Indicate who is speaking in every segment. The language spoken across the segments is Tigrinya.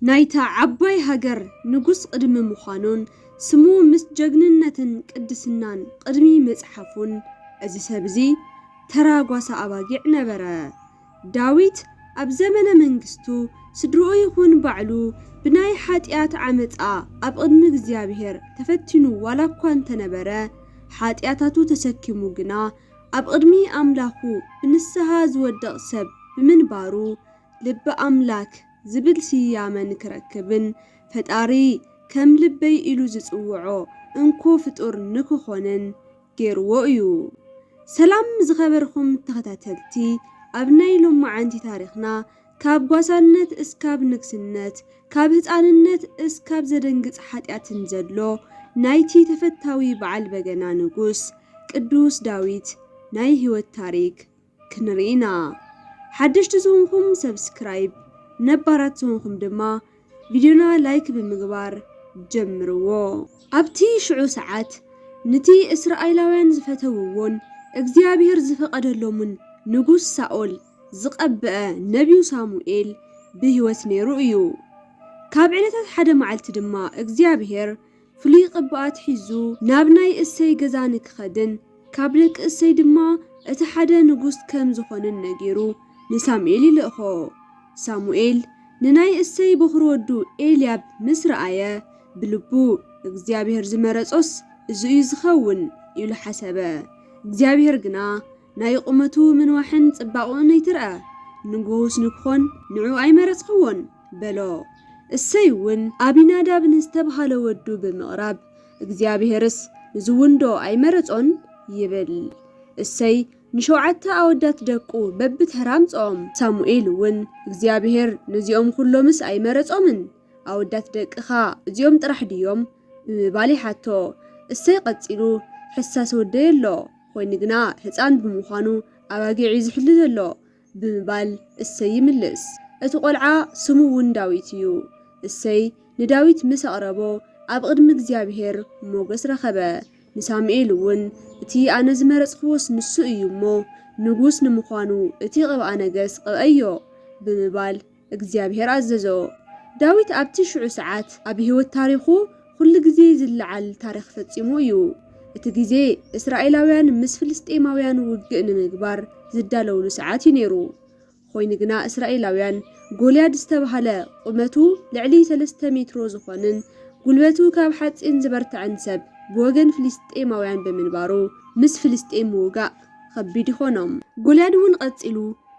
Speaker 1: ናይታ ዓባይ ሃገር ንጉስ ቕድሚ ምዃኑን ስሙ ምስ ጀግንነትን ቅድስናን ቕድሚ ምጽሓፉን እዚ ሰብ እዚ ተራ ጓሳ ኣባጊዕ ነበረ። ዳዊት ኣብ ዘመነ መንግስቱ ስድርኡ ይኹን ባዕሉ ብናይ ሓጥያት ዓመጻ ኣብ ቕድሚ እግዚኣብሄር ተፈቲኑ ዋላ እኳ እንተ ነበረ ሓጥያታቱ ተሰኪሙ ግና ኣብ ቕድሚ ኣምላኹ ብንስሃ ዝወድቕ ሰብ ብምንባሩ ልቢ ኣምላክ ዝብል ስያመ ንክረክብን ፈጣሪ ከም ልበይ ኢሉ ዝጽውዖ እንኮ ፍጡር ንክኾንን ጌርዎ እዩ። ሰላም ዝኸበርኩም ተኸታተልቲ ኣብ ናይ ሎማዓንቲ ታሪኽና ካብ ጓሳነት እስካብ ንግስነት ካብ ህጻንነት እስካብ ዘደንግጽ ሓጥያትን ዘሎ ናይቲ ተፈታዊ በዓል በገና ንጉስ ቅዱስ ዳዊት ናይ ሂወት ታሪክ ክንርኢ ኢና ሓደሽቲ ዝኹንኩም ሰብስክራይብ ነባራት ዝኹንኩም ድማ ቪድዮና ላይክ ብምግባር ጀምርዎ። ኣብቲ ሽዑ ሰዓት ንቲ እስራኤላውያን ዝፈተውዎን እግዚኣብሄር ዝፈቐደሎምን ንጉስ ሳኦል ዝቐብአ ነብዩ ሳሙኤል ብህይወት ነይሩ እዩ። ካብ ዕለታት ሓደ መዓልቲ ድማ እግዚኣብሄር ፍሉይ ቅብኣት ሒዙ ናብ ናይ እሴይ ገዛ ንኪኸድን ካብ ደቂ እሴይ ድማ እቲ ሓደ ንጉስ ከም ዚዀንን ነጊሩ ንሳሙኤል ይልእኮ። ሳሙኤል ንናይ እሴይ በዅሪ ወዱ ኤልያብ ምስ ረኣየ፣ ብልቡ፣ እግዚኣብሄር ዝመረጾስ እዚ እዩ ዚኸውን፣ ኢሉ ሓሰበ። እግዚኣብሄር ግና፣ ናይ ቁመቱ ምንዋሕን ጽባቕኡን ኣይትርኣ፣ ንጉስ ንክኾን ንዑ ኣይመረጽክዎን፣ በሎ። እሰይ'ውን ኣቢናዳብ ንዝተብሃለ ወዱ ብምቕራብ፣ እግዚኣብሄርስ ንዝውንዶ ኣይመረጾን? ይብል። እሰይ ንሸውዓተ ኣወዳት ደቁ በብተራ ኣምጽኦም። ሳሙኤል'ውን እግዚኣብሄር ነዚኦም ኹሎምስ ኣይመረጾምን፣ ኣወዳት ደቅኻ እዚኦም ጥራሕ ድዮም? ብምባል ይሓቶ። እሰይ ቀጺሉ ሕሳስ ወደይ ኣሎ። ኾይኑ ግና ህፃን ብምዃኑ ኣባጊዕ እዩ ዝሕሉ ዘሎ ብምባል እሰይ ይምልስ። እቲ ቖልዓ ስሙ እውን ዳዊት እዩ። እሰይ ንዳዊት ምስ ኣቕረቦ ኣብ ቕድሚ እግዚኣብሄር ሞገስ ረኸበ። ንሳሙኤል እውን እቲ ኣነ ዝመረፅኽዎስ ንሱ እዩ እሞ ንጉስ ንምዃኑ እቲ ቕብኣ ነገስ ቕብኣዮ ብምባል እግዚኣብሄር ኣዘዞ። ዳዊት ኣብቲ ሽዑ ሰዓት ኣብ ህይወት ታሪኹ ዅሉ ግዜ ዚለዓል ታሪኽ ፈጺሙ እዩ። እቲ ግዜ እስራኤላውያን ምስ ፍልስጥኤማውያን ውግእ ንምግባር ዚዳለዉሉ ሰዓት እዩ ነይሩ። ዀይኑ ግና፣ እስራኤላውያን ጎልያድ ዝተባህለ ቝመቱ ልዕሊ ሰለስተ ሜትሮ ዝዀንን ጕልበቱ ካብ ሓጺን ዝበርትዐን ሰብ ብወገን ፍልስጥኤማውያን ብምንባሩ ምስ ፍልስጥኤም ምውጋእ ኸቢድ ይዀኖም። ጎልያድ እውን ቐጺሉ፣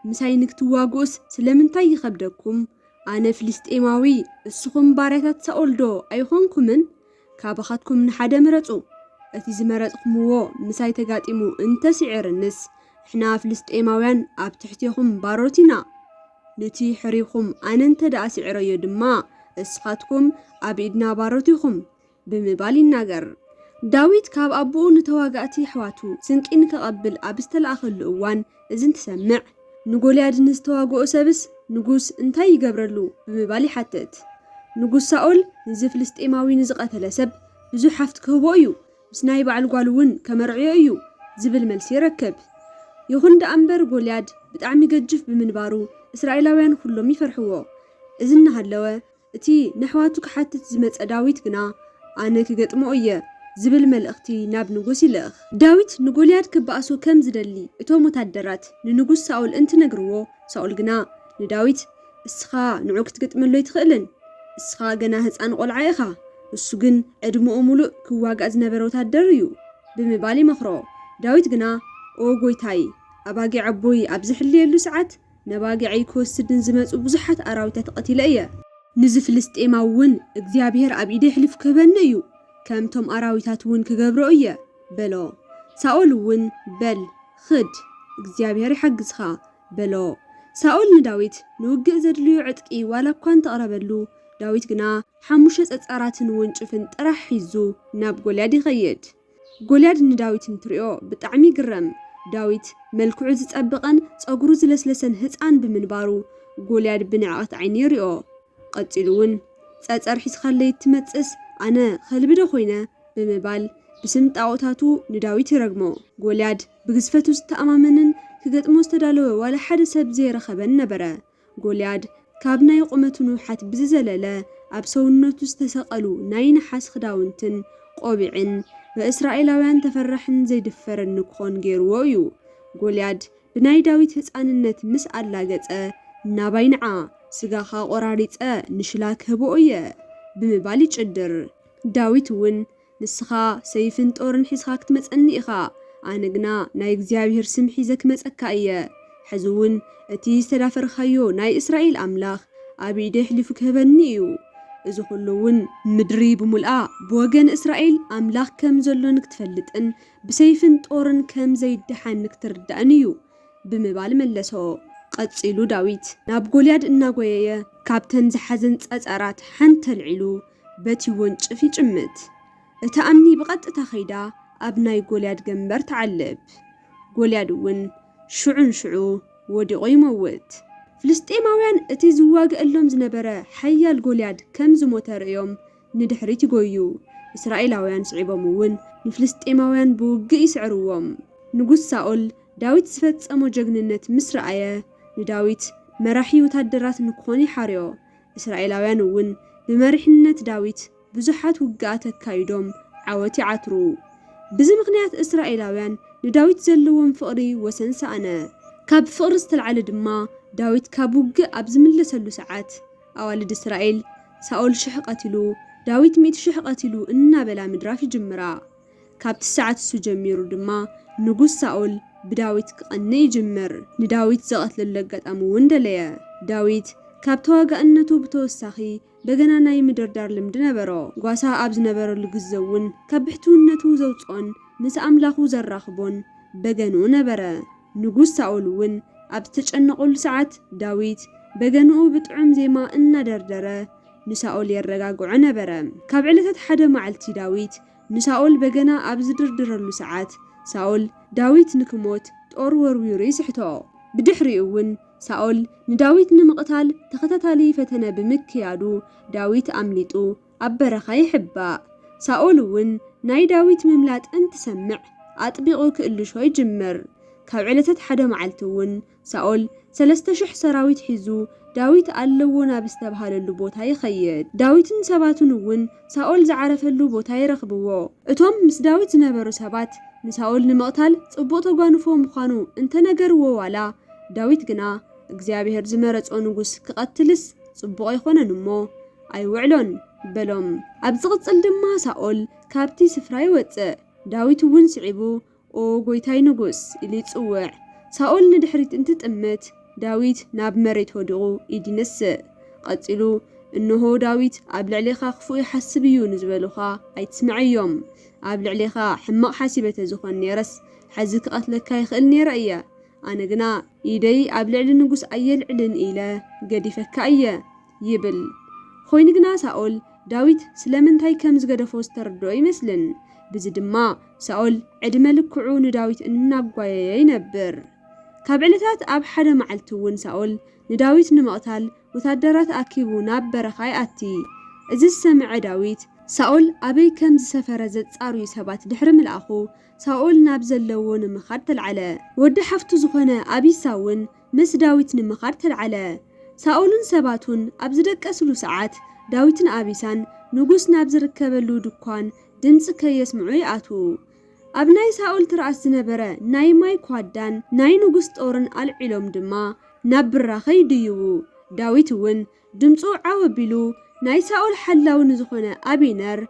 Speaker 1: ምሳይ ንክትዋግኡስ ስለምንታይ ይኸብደኩም? ኣነ ፍልስጥኤማዊ፣ እስኹም ባርያታት ሳኦልዶ ኣይዀንኩምን? ካባኻትኩም ንሓደ ምረጹ። እቲ ዝመረጽኩምዎ ምሳይ ተጋጢሙ እንተ ስዒሩንስ፣ ንሕና ፍልስጥኤማውያን ኣብ ትሕቴኹም ባሮት ኢና። ኑቲ ሕርይኹም ኣነ እንተደኣ ስዒረዮ ድማ፣ እስኻትኩም ኣብ ኢድና ባሮት ኢኹም። ብምባል ይናገር። ዳዊት ካብ ኣቦኡ ንተዋጋእቲ ኣሕዋቱ ስንቂ ንከቐብል ኣብ ዝተላእከሉ እዋን እዚ እንትሰምዕ፣ ንጎልያድ ንዝተዋግኦ ሰብስ ንጉስ እንታይ ይገብረሉ? ብምባል ይሓትት። ንጉስ ሳኦል ንዚ ፍልስጤማዊ ንዝቐተለ ሰብ ብዙሕ ሃፍቲ ክህቦ እዩ፣ ምስ ናይ በዓል ጓሉ እውን ከመርዕዮ እዩ ዝብል መልሲ ይረክብ። ይኹን ደኣ እምበር ጎልያድ ብጣዕሚ ገጅፍ ብምንባሩ እስራኤላውያን ኹሎም ይፈርሕዎ። እዚ እናሃለወ፣ እቲ ነሕዋቱ ክሓትት ዝመጸ ዳዊት ግና፣ ኣነ ክገጥሞ እየ ዝብል መልእኽቲ ናብ ንጉስ ይልእኽ። ዳዊት ንጎልያድ ክበኣሶ ከም ዝደሊ እቶም ወታደራት ንንጉስ ሳኦል እንትነግርዎ፣ ሳኦል ግና ንዳዊት፣ እስኻ ንዑ ክትገጥመሉ ኣይትኽእልን፣ እስኻ ገና ህጻን ቆልዓ ኢኻ፣ እሱ ግን ዕድመኡ ምሉእ ክዋጋእ ዝነበረ ወታደር እዩ ብምባል ይመኽሮ። ዳዊት ግና፣ ኦ ጎይታይ፣ ኣባጊዕ ኣቦይ ኣብ ዝሕልየሉ ሰዓት፣ ነባጊዐይ ክወስድ ንዝመጹ ብዙሓት ኣራዊታት ቐቲለ እየ። ንዚ ፍልስጥኤማዊ እውን፣ እግዚኣብሄር ኣብ ኢደይ ኣሕሊፉ ክህበኒ እዩ፣ ከምቶም ኣራዊታት እውን ክገብሮ እየ፣ በሎ። ሳኦል እውን፣ በል፣ ኽድ፣ እግዚኣብሄር ይሓግዝካ፣ በሎ። ሳኦል ንዳዊት ንውግእ ዘድልዮ ዕጥቂ ዋላ እኳ እንተ ኣቕረበሉ፣ ዳዊት ግና ሓሙሽተ ጸጻራትን ወንጭፍን ጥራሕ ሒዙ ናብ ጎልያድ ይኸይድ። ጎልያድ ንዳዊት እንትሪኦ ብጣዕሚ ይግረም። ዳዊት መልክዑ ዝጸብቐን ጸጉሩ ዝለስለሰን ህጻን ብምንባሩ ጎልያድ ብንዕቐት ዓይኒ ይሪኦ። ቐጺሉ ውን ጸጸር ሒዝኻለይ እትመጽእስ ኣነ ኸልቢ ዶ ኾይነ ብምባል ብስም ጣኦታቱ ንዳዊት ይረግሞ። ጎልያድ ብግዝፈቱ ዝተኣማመንን ክገጥሞ ዝተዳለወ ዋላ ሓደ ሰብ ዘየረኸበን ነበረ። ጎልያድ ካብ ናይ ቁመቱ ንውሓት ብዝዘለለ ኣብ ሰውነቱ ዝተሰቐሉ ናይ ነሓስ ክዳውንትን ቆቢዕን በእስራኤላውያን ተፈራሕን ዘይድፈርን ንክኾን ገይርዎ እዩ። ጎልያድ ብናይ ዳዊት ህጻንነት ምስ ኣላገጸ ናባይ ንዓ ስጋኻ ቆራሪጸ ንሽላ ክህቦ እየ ብምባል ይጭድር። ዳዊት እውን ንስኻ ሰይፍን ጦርን ሒዝካ ክትመጸኒ ኢኻ፣ ኣነ ግና ናይ እግዚኣብሄር ስም ሒዘ ክመጸካ እየ። ሕዚውን እቲ ዝተዳፈርካዮ ናይ እስራኤል ኣምላኽ ኣብ ኢደይ ኣሕሊፉ ክህበኒ እዩ። እዚ ዅሉውን። ምድሪ ብምሉኣ ብወገን እስራኤል ኣምላኽ ከም ዘሎ ንክትፈልጥን ብሰይፍን ጦርን ከም ዘይደሓን ንክትርዳእን እዩ ብምባል መለሶ። ቐጺሉ ዳዊት ናብ ጎልያድ እናጐየየ ካብተን ዝሓዘን ጸጸራት ሓንቲ ኣልዒሉ በቲ ወንጭፍ ይጭምት። እታ እምኒ ብቐጥታ ከይዳ ኣብ ናይ ጎልያድ ገምበር ትዓልብ። ጎልያድ እውን ሽዑ ንሽዑ ወዲቑ ይመውት። ፍልስጥኤማውያን እቲ ዝዋግኣሎም ዝነበረ ሓያል ጎልያድ ከም ዝሞተ ርእዮም ንድሕሪት ይጎዩ። እስራኤላውያን ስዒቦም እውን ንፍልስጥኤማውያን ብውግእ ይስዕርዎም። ንጉስ ሳኦል ዳዊት ዝፈጸሞ ጀግንነት ምስ ረኣየ ንዳዊት መራሒ ወታደራት ንክኾን ይሓርዮ። እስራኤላውያን እውን ብመሪሕነት ዳዊት ብዙሓት ውግኣት ኣካይዶም ዓወት ይዓትሩ። ብዚ ምኽንያት እስራኤላውያን ንዳዊት ዘለዎም ፍቕሪ ወሰን ሰኣነ። ካብ ፍቕሪ ዝተልዓለ ድማ ዳዊት ካብ ውግእ ኣብ ዝምለሰሉ ሰዓት ኣዋልድ እስራኤል ሳኦል ሽሕ ቀቲሉ፣ ዳዊት ሚእቲ ሽሕ ቀቲሉ እናበላ ምድራፍ ይጅምራ። ካብቲ ሰዓት እሱ ጀሚሩ ድማ ንጉስ ሳኦል ብዳዊት ክቐንእ ይጅምር። ንዳዊት ዘቐትለሉ ኣጋጣሚ እውን ደለየ። ዳዊት ካብ ተዋጋእነቱ ብተወሳኺ በገና ናይ ምድርዳር ልምዲ ነበሮ። ጓሳ ኣብ ዝነበረሉ ግዘ እውን ካብ ብሕትውነቱ ዘውፅኦን ምስ ኣምላኹ ዘራኽቦን በገንኡ ነበረ። ንጉስ ሳኦል እውን ኣብ ዝተጨነቐሉ ሰዓት፣ ዳዊት በገንኡ ብጥዑም ዜማ እናደርደረ ንሳኦል የረጋግዖ ነበረ። ካብ ዕለታት ሓደ መዓልቲ ዳዊት ንሳኦል በገና ኣብ ዝድርድረሉ ሰዓት፣ ሳኦል ዳዊት ንክሞት ጦር ወርዊሩ ይስሕቶ። ብድሕሪኡ እውን ሳኦል ንዳዊት ንምቕታል ተኸታታሊ ፈተነ ብምክያዱ ዳዊት ኣምሊጡ ኣብ በረኻ ይሕባእ። ሳኦል እውን ናይ ዳዊት ምምላጥ እንትሰምዕ ኣጥቢቑ ክእልሾ ይጅምር። ካብ ዕለታት ሓደ መዓልቲ እውን ሳኦል ሰለስተ ሽሕ ሰራዊት ሒዙ ዳዊት ኣለዎ ናብ ዝተብሃለሉ ቦታ ይኸይድ። ዳዊትን ሰባቱን እውን ሳኦል ዝዓረፈሉ ቦታ ይረኽብዎ። እቶም ምስ ዳዊት ዝነበሩ ሰባት ንሳኦል ንምቕታል ጽቡቕ ተጓንፎ ምዃኑ እንተነገርዎ ዋላ ዳዊት ግና እግዚኣብሄር ዝመረጾ ንጉስ ክቐትልስ ጽቡቕ ኣይኮነን እሞ ኣይውዕሎን በሎም። ኣብ ዝቕጽል ድማ ሳኦል ካብቲ ስፍራ ይወጽእ፣ ዳዊት እውን ስዒቡ ኦ ጐይታይ ንጉስ! ኢሉ ይጽውዕ። ሳኦል ንድሕሪት እንትጥምት፣ ዳዊት ናብ መሬት ወዲቑ ኢድ ይነስእ። ቐጺሉ እንሆ ዳዊት ኣብ ልዕሌኻ ክፉእ ይሓስብ እዩ ንዝበሉኻ ኣይትስምዐዮም። ኣብ ልዕሌኻ ሕማቕ ሓሲበ ተዝኾን ኔረስ ሕዚ ክቐትለካ ይኽእል ኔረ እየ። ኣነ ግና ኢደይ ኣብ ልዕሊ ንጉስ ኣየልዕልን ኢለ ገዲፈካ እየ። ይብል። ዀይኑ ግና፣ ሳኦል ዳዊት ስለምንታይ ከም ዝገደፎ ዝተረድኦ ኣይመስልን። ብዚ ድማ፣ ሳኦል ዕድመ ልክዑ ንዳዊት እናጓየየ ይነብር። ካብ ዕለታት ኣብ ሓደ መዓልቲ እውን ሳኦል ንዳዊት ንምቕታል ወተሃደራት ኣኪቡ ናብ በረኻ ይኣቲ። እዚ ዝሰምዐ ዳዊት፣ ሳኦል ኣበይ ከም ዝሰፈረ ዘጻርዩ ሰባት ድሕሪ ምልኣኹ፣ ሳኦል ናብ ዘለዎ ንምኻድ ተልዓለ። ወዲ ሓፍቱ ዝዀነ ኣቢሳ እውን ምስ ዳዊት ንምኻድ ተልዓለ። ሳኦልን ሰባቱን ኣብ ዝደቀስሉ ሰዓት፣ ዳዊትን ኣቢሳን ንጉስ ናብ ዝርከበሉ ድኳን ድምጺ ከየስምዑ ይኣትዉ። ኣብ ናይ ሳኦል ትርኣስ ዝነበረ ናይ ማይ ኳዳን ናይ ንጉስ ጦርን ኣልዒሎም ድማ ናብ ብራኸ ይድይቡ። ዳዊት እውን ድምጹ ዓው ኣቢሉ ናይ ሳኦል ሓላዊ ንዝኾነ ኣቤነር፣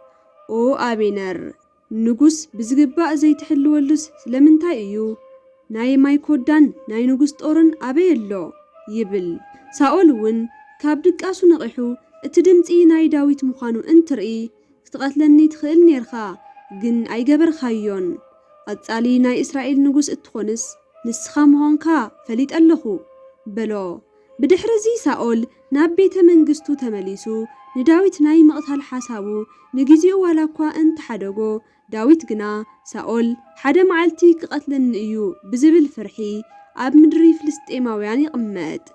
Speaker 1: ኦ ኣቤነር! ንጉስ ብዝግባእ ዘይትሕልወሉስ ስለምንታይ እዩ? ናይ ማይ ኮዳን ናይ ንጉስ ጦርን ኣበይ ኣሎ? ይብል። ሳኦል እውን ካብ ድቃሱ ነቒሑ እቲ ድምጺ ናይ ዳዊት ምዃኑ እንትርኢ ክትቐትለኒ ትኽእል ኔርካ ግን ኣይገበርካዮን። ቐጻሊ ናይ እስራኤል ንጉስ እትኾንስ ንስኻ ምኾንካ ፈሊጠ ኣለኹ በሎ። ብድሕርዚ ሳኦል ናብ ቤተ መንግስቱ ተመሊሱ ንዳዊት ናይ ምቕታል ሓሳቡ ንጊዜኡ ዋላ እኳ እንተ ሓደጎ፣ ዳዊት ግና ሳኦል ሓደ መዓልቲ ኪቐትለኒ እዩ ብዚብል ፍርሒ ኣብ ምድሪ ፍልስጥኤማውያን ይቕመጥ።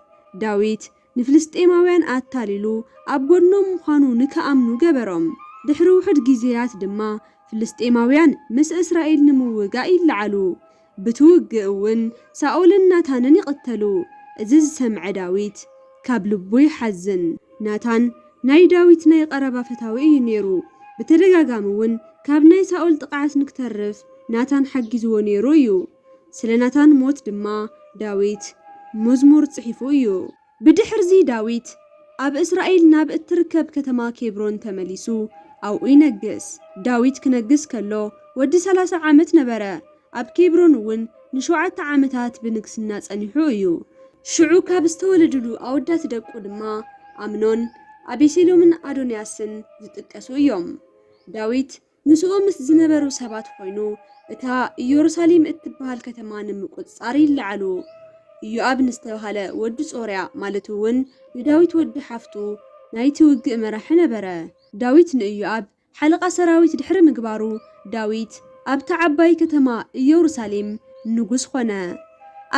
Speaker 1: ዳዊት ንፍልስጥኤማውያን ኣታሊሉ ኣብ ጐድኖም ምዃኑ ንኪኣምኑ ገበሮም። ድሕሪ ውሑድ ጊዜያት ድማ ፍልስጥኤማውያን ምስ እስራኤል ንምውጋእ ይለዓሉ። ብቲ ውግእ እውን ሳኦልን ናታንን ይቕተሉ። እዚ ዝሰምዐ ዳዊት ካብ ልቡ ይሓዝን። ናታን ናይ ዳዊት ናይ ቐረባ ፈታዊ እዩ ነይሩ። ብተደጋጋሚ እውን ካብ ናይ ሳኦል ጥቕዓት ንክተርፍ ናታን ሓጊዝዎ ነይሩ እዩ። ስለ ናታን ሞት ድማ ዳዊት ሙዝሙር ጽሒፉ እዩ። ብድሕርዚ ዳዊት ኣብ እስራኤል ናብ እትርከብ ከተማ ኬብሮን ተመሊሱ ኣብኡ ይነግስ። ዳዊት ክነግስ ከሎ ወዲ ሰላሳ ዓመት ነበረ፣ ኣብ ኬብሮን እውን ንሸውዓተ ዓመታት ብንግስና ጸኒሑ እዩ። ሽዑ ካብ ዝተወለዱሉ ኣወዳት ደቁ ድማ ኣምኖን፣ ኣቤሴሎምን ኣዶንያስን ዝጥቀሱ እዮም። ዳዊት ምስኡ ምስ ዝነበሩ ሰባት ዀይኑ እታ ኢየሩሳሌም እትብሃል ከተማ ንምቍጽጻር ይለዓሉ። ኢዮኣብ ንዝተባህለ ወዲ ጾርያ፣ ማለት እውን ንዳዊት ወዲ ሓፍቱ፣ ናይቲ ውግእ መራሒ ነበረ። ዳዊት ንኢዮኣብ ሓለቓ ሰራዊት ድሕሪ ምግባሩ፣ ዳዊት ኣብታ ዓባይ ከተማ ኢየሩሳሌም ንጉስ ዀነ።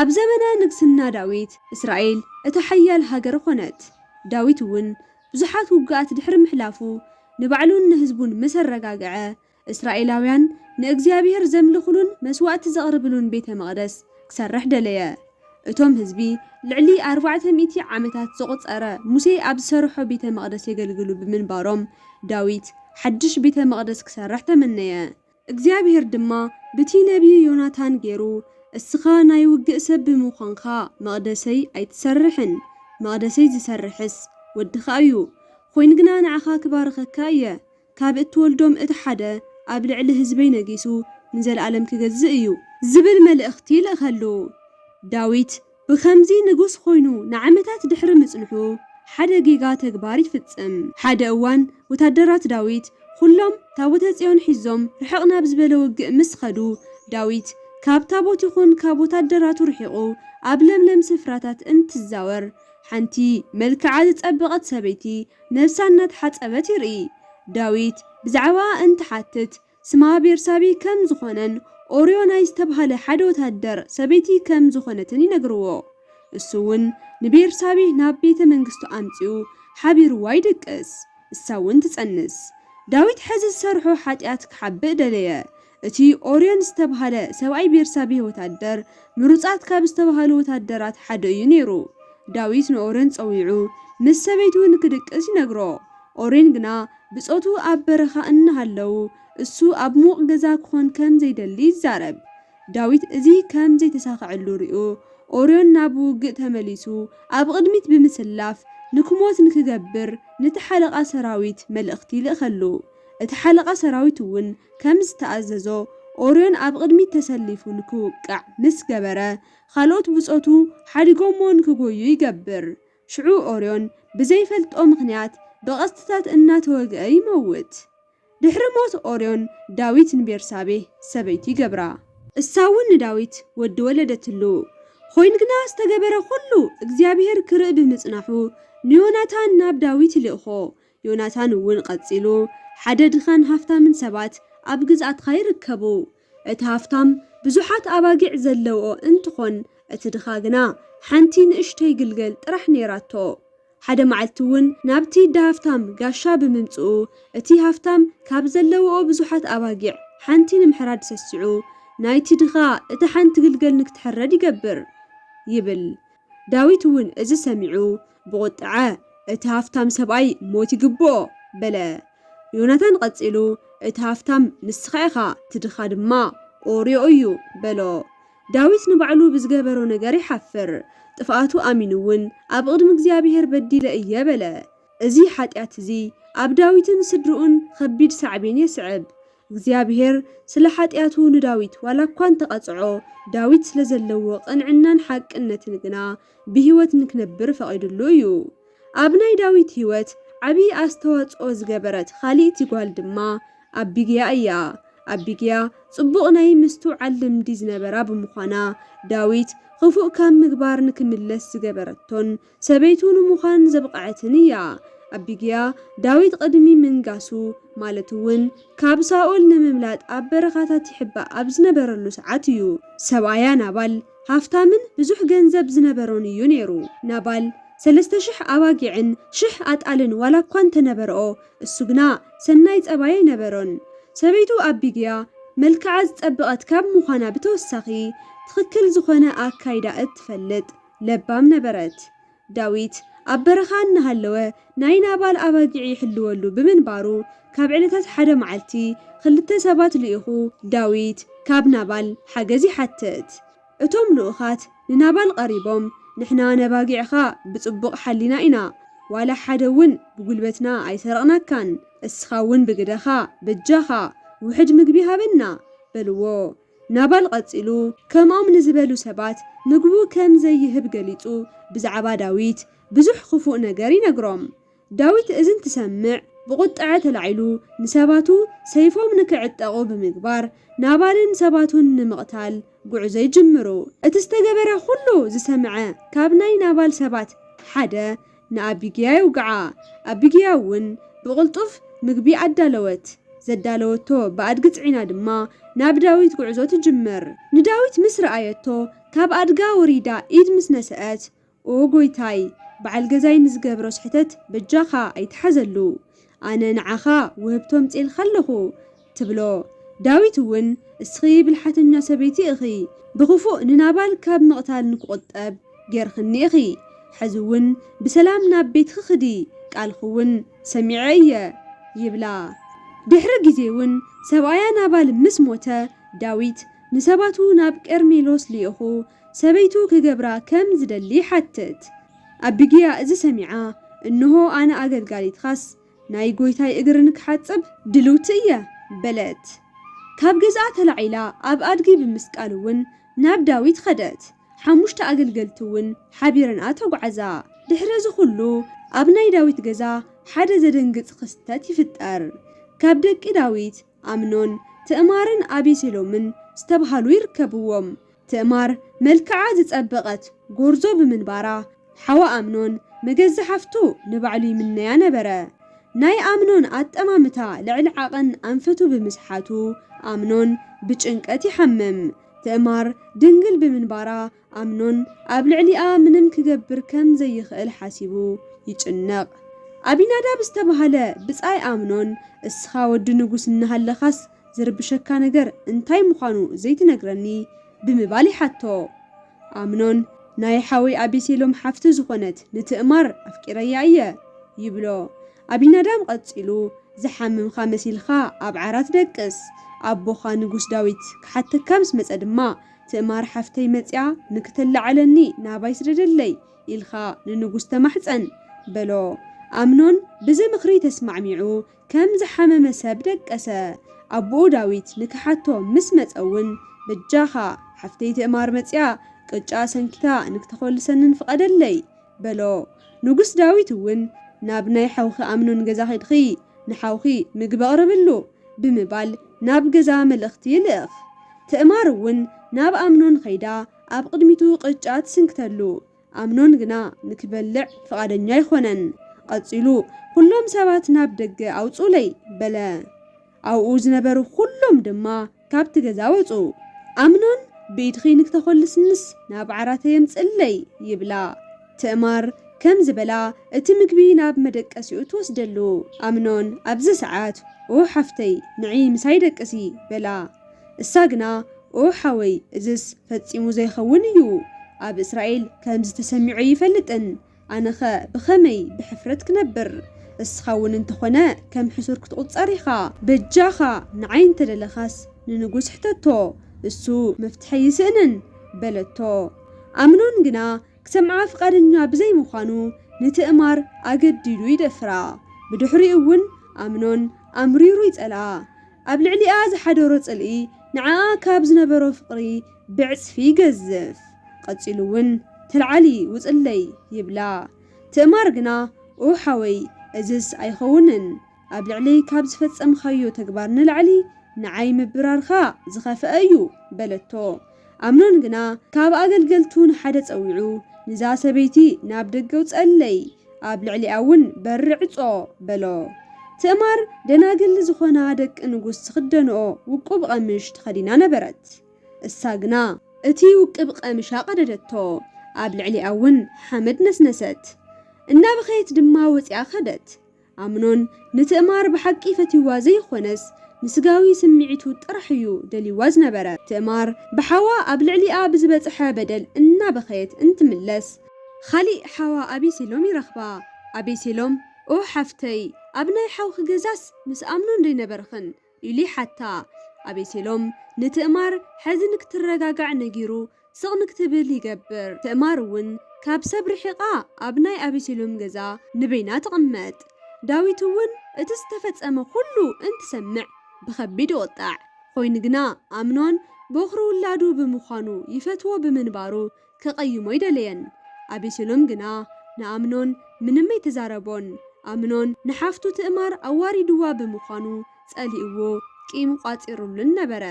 Speaker 1: ኣብ ዘመነ ንግስና ዳዊት፣ እስራኤል እታ ሓያል ሃገር ዀነት፣ ዳዊት እውን ብዙሓት ውግኣት ድሕሪ ምሕላፉ፣ ንባዕሉን ንህዝቡን ምስ ኣረጋግዐ፣ እስራኤላውያን ንእግዚኣብሄር ዘምልኹሉን መስዋእቲ ዘቕርብሉን ቤተ መቕደስ ክሰርሕ ደለየ። እቶም ህዝቢ ልዕሊ ኣርባዕተ ሚእቲ ዓመታት ዘቑጸረ ሙሴ ኣብ ዝሰርሖ ቤተ መቕደስ የገልግሉ ብምንባሮም፣ ዳዊት ሓድሽ ቤተ መቕደስ ክሰርሕ ተመነየ። እግዚኣብሄር ድማ ብቲ ነብዪ ዮናታን ገይሩ፣ እስኻ ናይ ውግእ ሰብ ብምዃንካ፣ መቕደሰይ ኣይትሰርሕን፣ መቕደሰይ ዚሰርሕስ፣ ወድኻ እዩ፣ ዀይኑ ግና ንዓኻ ክባርኸካ እየ፣ ካብ እትወልዶም እቲ ሓደ ኣብ ልዕሊ ህዝበይ ነጊሱ ንዘለኣለም ኪገዝእ እዩ። ዚብል መልእኽቲ ልእኸሉ። ዳዊት ብኸምዚ ንጉስ ዀይኑ ንዓመታት ድሕሪ ምጽንሑ፣ ሓደ ጌጋ ተግባር ይፍጽም። ሓደ እዋን ወተሃደራት ዳዊት ዅሎም ታቦተ ጽዮን ሒዞም ርሕቕ ናብ ዝበለ ውግእ ምስ ኸዱ፣ ዳዊት ካብ ታቦት ይኹን ካብ ወተሃደራቱ ርሒቑ ኣብ ለምለም ስፍራታት እንትዛወር፣ ሓንቲ መልክዓ ዝጸበቐት ሰበይቲ ነብሳ እናተሓጸበት ይርኢ። ዳዊት ብዛዕባኣ እንትሓትት፣ ስማ ቤርሳቤ ከም ዝኾነን ኦርዮ ናይ ዝተብሃለ ሓደ ወተሃደር ሰበይቲ ከም ዝኾነትን ይነግርዎ። እሱ ውን ንቤርሳቤ ናብ ቤተ መንግስቱ ኣምጺኡ ሓቢርዋ ይድቅስ። እሳ ውን ትጸንስ። ዳዊት ሐዚ ዝሰርሖ ሓጥያት ክሓብእ ደለየ። እቲ ኦርዮን ዝተብሃለ ሰብኣይ ቤርሳቤህ ወተሃደር ምሩጻት ካብ ዝተብሃሉ ወተሃደራት ሓደ እዩ ነይሩ። ዳዊት ንኦርዮን ጸዊዑ ምስ ሰበይቱ ንክድቅስ ይነግሮ። ኦርዮን ግና ብጾቱ ኣብ በረኻ እናሃለዉ እሱ ኣብ ምዉቕ ገዛ ክዀን ከም ዘይደሊ ይዛረብ። ዳዊት እዚ ከም ዘይተሳኽዐሉ ርእዩ፣ ኦርዮን ናብ ውግእ ተመሊሱ ኣብ ቕድሚት ብምስላፍ ንክሞት ንክገብር ነቲ ሓለቓ ሰራዊት መልእኽቲ ይልእኸሉ። እቲ ሓለቓ ሰራዊት እውን ከም ዝተኣዘዞ ኦርዮን ኣብ ቕድሚት ተሰሊፉ ንክውቃዕ ምስ ገበረ ኻልኦት ብጾቱ ሓዲጎሞ ንክጐዩ ይገብር። ሽዑ ኦርዮን ብዘይፈልጦ ምኽንያት ብቐስትታት እናተወግአ ይመውት። ድሕሪ ሞት ኦርዮን፣ ዳዊት ንቤርሳቤህ ሰበይቱ ይገብራ። እሳውን ንዳዊት ወዲ ወለደትሉ። ኾይኑ ግና ዝተገበረ ኹሉ እግዚኣብሄር ክርኢ ብምጽናሑ ንዮናታን ናብ ዳዊት ይልእኮ። ዮናታን እውን ቐጺሉ፣ ሓደ ድኻን ሃፍታምን ሰባት ኣብ ግዝኣትኻ ይርከቡ። እቲ ሃፍታም ብዙሓት ኣባጊዕ ዘለውኦ እንትኾን እቲ ድኻ ግና ሓንቲ ንእሽተይ ግልገል ጥራሕ ነይራቶ። ሓደ መዓልቲ እውን ናብቲ ዳሃፍታም ጋሻ ብምምፅኡ እቲ ሃፍታም ካብ ዘለውኦ ብዙሓት ኣባጊዕ ሓንቲ ንምሕራድ ሰሲዑ ናይቲ ድኻ እታ ሓንቲ ግልገል ንክትሕረድ ይገብር። ይብል። ዳዊት እውን እዚ ሰሚዑ ብቑጥዐ፣ እቲ ሃፍታም ሰብኣይ ሞት ይግብኦ! በለ። ዮናታን ቐጺሉ፣ እቲ ሃፍታም ንስኻ ኢኻ፣ እቲ ድኻ ድማ ኦርዮ እዩ! በሎ። ዳዊት ንባዕሉ ብዝገበሮ ነገር ይሓፍር፣ ጥፍኣቱ ኣሚኑውን፣ ኣብ ቕድሚ እግዚኣብሄር በዲለ እየ! በለ። እዚ ሓጢኣት እዚ ኣብ ዳዊትን ስድርኡን ኸቢድ ሳዕቤን የስዕብ። እግዚኣብሄር ስለ ሓጢኣቱ ንዳዊት ዋላ እኳ እንተ ቐጽዖ፣ ዳዊት ስለ ዘለዎ ቕንዕናን ሓቅነትን ግና፣ ብህይወት ንክነብር ፈቒዱሉ እዩ። ኣብ ናይ ዳዊት ህይወት ዓብዪ ኣስተዋጽኦ ዝገበረት ኻልእቲ ጓል ድማ ኣቢግያ እያ። ኣቢግያ ጽቡቕ ናይ ምስትውዓል ልምዲ ዝነበራ ብምዃና፣ ዳዊት ኽፉእ ካብ ምግባር ንክምለስ ዝገበረቶን ሰበይቱ ንምዃን ዘብቐዐትን እያ። ኣቢግያ፣ ዳዊት ቕድሚ ምንጋሱ፣ ማለት እውን ካብ ሳኦል ንምምላጥ ኣብ በረኻታት ይሕባእ ኣብ ዝነበረሉ ሰዓት እዩ ሰብኣያ ናባል፣ ሃፍታምን ብዙሕ ገንዘብ ዝነበሮን እዩ ነይሩ። ናባል ሰለስተ ሽሕ ኣባጊዕን ሽሕ ኣጣልን ዋላ እኳ እንተ ነበርኦ፣ እሱ ግና ሰናይ ጸባይ ኣይነበሮን። ሰበይቱ ኣቢግያ መልክዓ ዝጸበቐት ካብ ምዃና ብተወሳኺ፣ ትኽክል ዝዀነ ኣካይዳ እትፈልጥ ለባም ነበረት። ዳዊት ኣብ በረኻ እናሃለወ ናይ ናባል ኣባጊዕ ይሕልወሉ ብምንባሩ፣ ካብ ዕለታት ሓደ መዓልቲ ኽልተ ሰባት ልኢኹ ዳዊት ካብ ናባል ሓገዝ ይሓትት። እቶም ልኡኻት ንናባል ቐሪቦም፣ ንሕና ነባጊዕኻ ብጽቡቕ ሓሊና ኢና፣ ዋላ ሓደ እውን ብጕልበትና ኣይሰረቕናካን፣ እስኻ እውን ብግደኻ፣ በጃኻ፣ ውሑድ ምግቢ ሃበና፣ በልዎ። ናቫል ቐጺሉ፣ ከምኦም ንዝበሉ ሰባት ምግቡ ከም ዘይህብ ገሊጹ ብዛዕባ ዳዊት ብዙሕ ኽፉእ ነገር ይነግሮም። ዳዊት እዚ እንትሰምዕ ብቝጥዐ ተላዒሉ ንሰባቱ ሰይፎም ንኪዕጠቑ ብምግባር፣ ናቫልን ሰባቱን ንምቕታል ጕዕዞ ይጅምሩ። እቲ ዝተገበረ ዅሉ ዝሰምዐ ካብ ናይ ናቫል ሰባት ሓደ፣ ንኣቢግያ የውግዓ። ኣቢግያ እውን ብቕልጡፍ ምግቢ ኣዳለወት፣ ዘዳለወቶ ብኣድጊ ጽዒና ድማ ናብ ዳዊት ጉዕዞ ትጅምር። ንዳዊት ምስ ረኣየቶ ካብ ኣድጋ ወሪዳ ኢድ ምስ ነሰኣት፣ ኦ ጐይታይ፣ በዓል ገዛይ ንዝገብሮ ስሕተት በጃኻ ኣይትሓዘሉ፣ ኣነ ንዓኻ ውህብቶ ኣምጺኤልካ ኣለኹ፣ ትብሎ። ዳዊት እውን፣ እስኺ ብልሓተኛ ሰበይቲ ኢኺ፣ ብኽፉእ ንናባል ካብ ምቕታል ንክቑጠብ ጌርክኒ ኢኺ። ሕዚ እውን ብሰላም ናብ ቤትኪ ክዲ፣ ቃልኪ እውን ሰሚዐ እየ፣ ይብላ። ድሕሪ ግዜ እውን ሰብኣያ ናባል ምስ ሞተ፣ ዳዊት ንሰባቱ ናብ ቀርሜሎስ ልኢኹ፣ ሰበይቱ ክገብራ ከም ዝደሊ ይሓትት። ኣቢግያ እዚ ሰሚዓ፣ እንሆ፣ ኣነ ኣገልጋሊትኻስ፣ ናይ ጐይታይ እግሪ ንክሓጽብ ድልውቲ እየ፣ በለት። ካብ ገዝኣ ተላዒላ ኣብ ኣድጊ ብምስቃል እውን ናብ ዳዊት ኸደት፣ ሓሙሽተ ኣገልገልቲ እውን ሓቢረንኣ ተጓዕዛ። ድሕሪ እዚ ዅሉ፣ ኣብ ናይ ዳዊት ገዛ ሓደ ዘደንግጽ ኽስተት ይፍጠር። ካብ ደቂ ዳዊት፣ ኣምኖን፣ ትእማርን ኣቤሴሎምን ዝተብሃሉ ይርከብዎም። ትእማር መልክዓ ዝጸበቐት ጎርዞ ብምንባራ፣ ሓዋ ኣምኖን መገዛ ሓፍቱ ንባዕሉ ይምነያ ነበረ። ናይ ኣምኖን ኣጠማምታ ልዕሊ ዓቐን ኣንፈቱ ብምስሓቱ፣ ኣምኖን ብጭንቀት ይሓምም። ትእማር ድንግል ብምንባራ ኣምኖን ኣብ ልዕሊኣ ምንም ኪገብር ከም ዘይኽእል ሓሲቡ ይጭነቕ። ኣቢናዳብ ዝተባህለ ብጻይ ኣምኖን፣ እስኻ ወዲ ንጉስ እናሃለኻስ ዚርብሸካ ነገር እንታይ ምዃኑ ዘይትነግረኒ? ብምባል ይሓቶ። ኣምኖን፣ ናይ ሓወይ ኣቤሴሎም ሓፍቲ ዝዀነት ንትእማር ኣፍቂረያ እየ። ይብሎ። ኣቢናዳብ ቐጺሉ፣ ዝሓመምካ መሲልካ ኣብ ዓራት ደቅስ፣ ኣቦኻ ንጉስ ዳዊት ኪሓተካ ምስ መጸ ድማ፣ ትእማር ሓፍተይ መጺኣ ንክትላዓለኒ ናባይ ስደደለይ ኢልካ ንንጉስ ተማሕጸን በሎ። ኣምኖን ብዚ ምኽሪ ተስማዕሚዑ ከም ዝሓመመ ሰብ ደቀሰ። ኣቡኡ ዳዊት ንክሓቶ ምስ መጸ ውን በጃኻ ሓፍተይ ትእማር መጺኣ ቅጫ ሰንኪታ ንክተኾልሰንን ፍቐደለይ በሎ። ንጉስ ዳዊት እውን፣ ናብ ናይ ሓውኺ ኣምኖን ገዛ ኺድኺ፣ ንሓውኺ ምግቢ ኣቕርብሉ፣ ብምባል ናብ ገዛ መልእኽቲ ይልእኽ። ትእማር እውን ናብ ኣምኖን ኸይዳ ኣብ ቕድሚቱ ቕጫ ትስንክተሉ፣ ኣምኖን ግና ንኪበልዕ ፍቓደኛ ኣይዀነን። ቐጺሉ፣ ዅሎም ሰባት ናብ ደገ ኣውጽኡለይ፣ በለ። ኣብኡ ዝነበሩ ዅሎም ድማ ካብቲ ገዛ ወጹ። ኣምኖን፣ ብኢድኺ ንክተዀልስንስ ናብ ዓራተይ ኣምጽእለይ፣ ይብላ። ትእማር ከምዚ በላ እቲ ምግቢ ናብ መደቀሲኡ ትወስደሉ። ኣምኖን ኣብዚ ሰዓት ኡሕ ሓፍተይ ንዒ ምሳይ ደቅሲ፣ በላ። እሳ ግና ኡሕ ሓወይ እዝስ ፈጺሙ ዘይኸውን እዩ፣ ኣብ እስራኤል ከምዚ ተሰሚዑ ኣይፈልጥን፣ ኣነኸ ብኸመይ ብሕፍረት ክነብር? እስኻ እውን እንተኾነ ከም ሕሱር ክትቑጸር ኢኻ። በጃኻ ንዓይ እንተደለኻስ ንንጉስ ሕተቶ፣ እሱ መፍትሒ ኣይስእንን፣ በለቶ። ኣምኖን ግና ክሰምዓ ፍቓደኛ ብዘይምዃኑ ንትእማር ኣገዲዱ ይደፍራ። ብድሕሪኡ እውን ኣምኖን ኣምሪሩ ይጸልኣ። ኣብ ልዕሊኣ ዝሓደሮ ጽልኢ ንዓኣ ካብ ዝነበሮ ፍቕሪ ብዕጽፊ ይገዝፍ። ቐጺሉ ውን ተልዓሊ ውጽለይ ይብላ። ትእማር ግና ኡሕ ሓወይ እዝስ ኣይኸውንን ኣብ ልዕለይ ካብ ዝፈጸምኻዮ ተግባር ንላዕሊ ንዓይ ምብራርካ ዝኸፈኣ እዩ በለቶ። ኣምኖን ግና ካብ ኣገልገልቱ ንሓደ ጸዊዑ፣ ንዛ ሰበይቲ ናብ ደገ ኣውጽኣለይ፣ ኣብ ልዕሊኣውን በሪ ዕጾ፣ በሎ። ትእማር ደናግል ዝዀና ደቂ ንጉስ ዝኽደንኦ ውቁብ ቐምሽ ተኸዲና ነበረት። እሳ ግና እቲ ውቅብ ቐምሻ ቀደደቶ፣ ኣብ ልዕሊኣውን ሓመድ ነስነሰት፣ እናበኸየት ድማ ወጺኣ ከደት። ኣምኖን ንትእማር ብሓቂ ፈትዩዋ ዘይኾነስ ንስጋዊ ስምዒቱ ጥራሕ እዩ ደልዩዋ ዝነበረ። ትእማር ብሓዋ ኣብ ልዕሊኣ ብዝበፀሐ በደል እናበኸየት እንትምለስ። ኻሊእ ሓዋ ኣቤሴሎም ይረኽባ። ኣቤሴሎም ኦህ ሓፍተይ ኣብ ናይ ሓውኺ ገዛስ ምስ ኣምኖን ደይነበርኽን? ኢሉ ይሓታ። ኣቤሴሎም ንትእማር ሐዚ ንክትረጋጋዕ ነጊሩ ስቕ ንክትብል ይገብር። ትእማር እውን ካብ ሰብ ርሒቓ ኣብ ናይ ኣቤሴሎም ገዛ ንበይና ትቕመጥ። ዳዊት እውን እቲ ዝተፈፀመ ኹሉ እንትሰምዕ ብኸቢድ ይቑጣዕ። ኾይኑ ግና ኣምኖን ቦኽሪ ውላዱ ብምዃኑ ይፈትዎ ብምንባሩ ኬቐይሞ ኣይደለየን። ኣቤሴሎም ግና ንኣምኖን ምንም ኣይተዛረቦን። ኣምኖን ንሓፍቱ ትእማር ኣዋሪድዋ ብምዃኑ ጸሊእዎ ቂም ቋጺሩሉን ነበረ።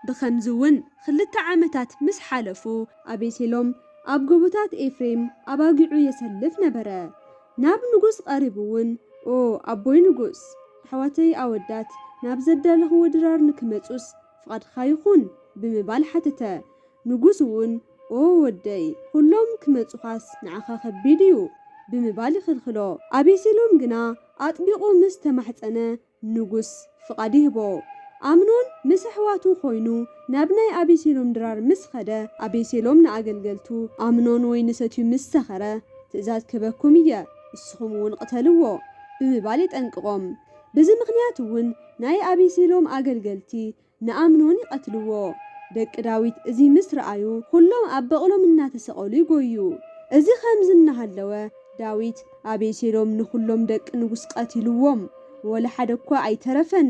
Speaker 1: ብኸምዚ እውን ኽልተ ዓመታት ምስ ሓለፉ። ኣቤሴሎም ኣብ ጎቦታት ኤፍሬም ኣባጊዑ የሰልፍ ነበረ። ናብ ንጉስ ቐሪቡ እውን ኦ ኣቦይ ንጉስ! ኣሕዋተይ ኣወዳት ናብ ዘዳለኽዎ ድራር ንኪመጹስ ፍቓድካ ይኹን፣ ብምባል ሓተተ። ንጉስ እውን፣ ኦ ወደይ፣ ዅሎም ኪመጹኻስ ንዓኻ ኸቢድ እዩ፣ ብምባል ይኽልክሎ። ኣቤሴሎም ግና ኣጥቢቑ ምስ ተማሕጸነ፣ ንጉስ ፍቓድ ይህቦ። ኣምኖን ምስ ኣሕዋቱ ዀይኑ ናብ ናይ ኣቤሴሎም ድራር ምስ ኸደ፣ ኣቤሴሎም ንኣገልገልቱ፣ ኣምኖን ወይኒ ሰትዩ ምስ ሰኸረ፣ ትእዛዝ ክህበኩም እየ፣ ንስኹም እውን ቕተልዎ፣ ብምባል የጠንቅቖም። በዚ ምኽንያት እውን ናይ ኣቤሴሎም ኣገልገልቲ ንኣምኖን ይቐትልዎ። ደቂ ዳዊት እዚ ምስ ረኣዩ ዅሎም ኣብ በቕሎም እናተሰቐሉ ይጐዩ። እዚ ኸምዚ እናሃለወ ዳዊት፣ ኣቤሴሎም ንዅሎም ደቂ ንጉስ ቐቲልዎም፣ ወላ ሓደ እኳ ኣይተረፈን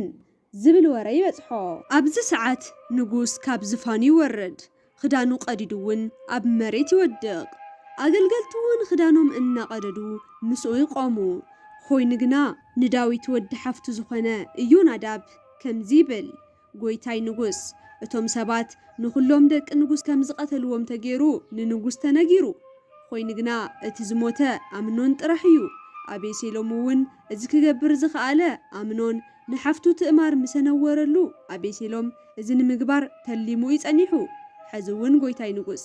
Speaker 1: ዝብል ወረ ይበጽሖ። ኣብዚ ሰዓት ንጉስ ካብ ዝፋኑ ይወርድ፣ ኽዳኑ ቀዲዱ እውን ኣብ መሬት ይወድቕ፣ ኣገልገልቱ እውን ኽዳኖም እናቐደዱ ምስኡ ይቖሙ። ዀይኑ ግና፣ ንዳዊት ወዲ ሓፍቱ ዝዀነ ኢዮናዳብ ከምዚ ይብል፣ ጐይታይ ንጉስ፣ እቶም ሰባት ንዅሎም ደቂ ንጉስ ከም ዝቐተልዎም ተገይሩ ንንጉስ ተነጊሩ፣ ዀይኑ ግና፣ እቲ ዝሞተ ኣምኖን ጥራሕ እዩ። ኣቤሴሎም እውን እዚ ኽገብር ዝኸኣለ፣ ኣምኖን ንሓፍቱ ትእማር ምሰ ነወረሉ፣ ኣቤሴሎም፣ እዚ ንምግባር ተሊሙ እዩ ጸኒሑ ሐዚ ውን ጎይታይ ንጉስ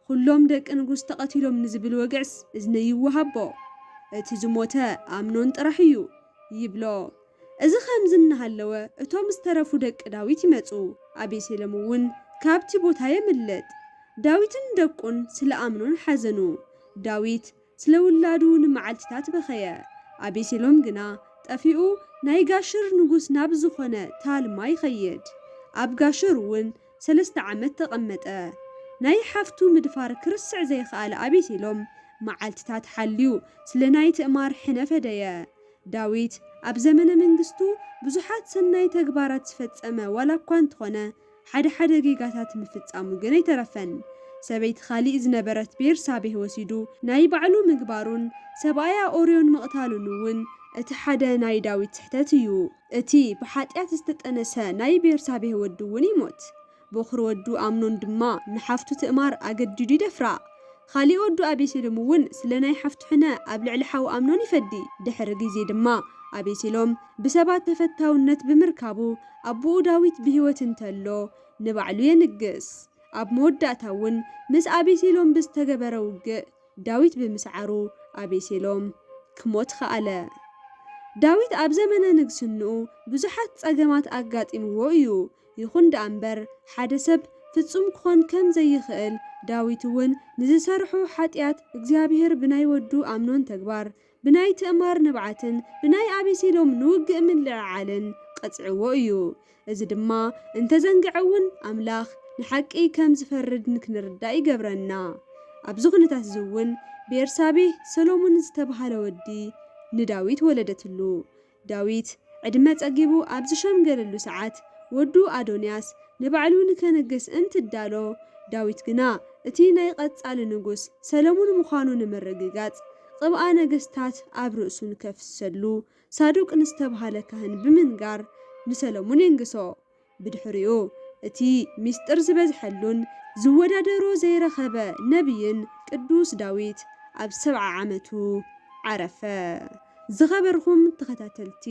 Speaker 1: ኹሎም ደቂ ንጉስ ተቀቲሎም ንዝብል ወግዕስ እዝነይ ይወሃቦ እቲ ዝሞተ ኣምኖን ጥራሕ እዩ ይብሎ እዚ ኸምዚ እናሃለወ እቶም ዝተረፉ ደቂ ዳዊት ይመጹ ኣቤሴሎም ውን ካብቲ ቦታ የምልጥ ዳዊትን ደቁን ስለ ኣምኖን ሓዘኑ ዳዊት ስለ ውላዱ ንመዓልቲታት በኸየ። ኣቤሴሎም ግና ጠፊኡ ናይ ጋሽር ንጉስ ናብ ዝኾነ ታልማ ይኸይድ። ኣብ ጋሽር እውን ሰለስተ ዓመት ተቐመጠ። ናይ ሓፍቱ ምድፋር ክርስዕ ዘይኸኣለ ኣቤሴሎም መዓልቲታት ሓልዩ ስለ ናይ ትእማር ሕነ ፈደየ። ዳዊት ኣብ ዘመነ መንግስቱ ብዙሓት ሰናይ ተግባራት ዝፈጸመ ዋላ እኳ እንተኾነ፣ ሓደ ሓደ ጌጋታት ምፍጻሙ ግን ኣይተረፈን። ሰበይቲ ኻሊእ ዝነበረት ቤርሳቤህ ወሲዱ ናይ ባዕሉ ምግባሩን ሰብኣያ ኦርዮን ምቕታሉን'ውን እቲ ሓደ ናይ ዳዊት ስሕተት እዩ። እቲ ብሓጢኣት ዝተጠነሰ ናይ ቤርሳቤህ ወዲ'ውን ይሞት፣ ቦኽሪ ወዱ ኣምኖን ድማ ንሓፍቱ ትእማር ኣገዲዱ ይደፍራ። ኻሊእ ወዱ ኣቤሴሎም እውን ስለ ናይ ሓፍቱ ሕነ ኣብ ልዕሊ ሓው ኣምኖን ይፈዲ። ድሕሪ ጊዜ ድማ ኣቤሴሎም ብሰባት ተፈታውነት ብምርካቡ ኣቦኡ ዳዊት ብህይወት እንተሎ ንባዕሉ የንግስ። ኣብ መወዳእታ እውን ምስ ኣቤሴሎም ብዝተገበረ ውግእ ዳዊት ብምስዓሩ ኣቤሴሎም ክሞት ኸኣለ። ዳዊት ኣብ ዘመነ ንግስንኡ ብዙሓት ጸገማት ኣጋጢምዎ እዩ። ይኹን ደኣ እምበር፣ ሓደ ሰብ ፍጹም ክኾን ከም ዘይክእል፣ ዳዊት እውን ንዝሰርሖ ሓጢኣት እግዚኣብሄር ብናይ ወዱ ኣምኖን ተግባር፣ ብናይ ትእማር ንብዓትን ብናይ ኣቤሴሎም ንውግእ ምልዕዓልን ቐጺዕዎ እዩ። እዚ ድማ እንተ ዘንግዐ እውን ኣምላኽ ንሓቂ ከም ዝፈርድ ንክንርዳእ ይገብረና። ኣብዚ ዅነታት እዚ እውን ቤርሳቤህ ሰሎሞን ዝተብሃለ ወዲ ንዳዊት ወለደትሉ። ዳዊት ዕድመ ጸጊቡ ኣብ ዝሸምገለሉ ሰዓት፣ ወዱ ኣዶንያስ ንባዕሉ ንከንግስ እንትዳሎ፣ ዳዊት ግና እቲ ናይ ቐጻሊ ንጉስ ሰለሙን ምዃኑ ንምርግጋጽ፣ ቕብኣ ነገስታት ኣብ ርእሱ ንከፍስሰሉ ሳዱቅ ንዝተብሃለ ካህን ብምንጋር ንሰለሙን የንግሶ። ብድሕሪኡ እቲ ምስጢር ዝበዝሐሉን ዝወዳደሮ ዘይረኸበ ነብይን ቅዱስ ዳዊት ኣብ ሰብዓ ዓመቱ ዓረፈ። ዝኸበርኹም ተኸታተልቲ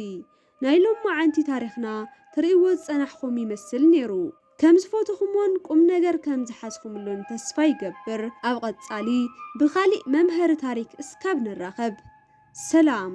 Speaker 1: ናይ ሎማዓንቲ ታሪኽና ትርእይዎ ዝጸናሕኹም ይመስል ኔሩ ከም ዝፎተኹሞን ቁምነገር ከም ዝሓዝኹምሉን ተስፋ ይገብር ኣብ ቐጻሊ ብኻሊእ መምሀሪ ታሪክ እስካብ ንራኸብ ሰላም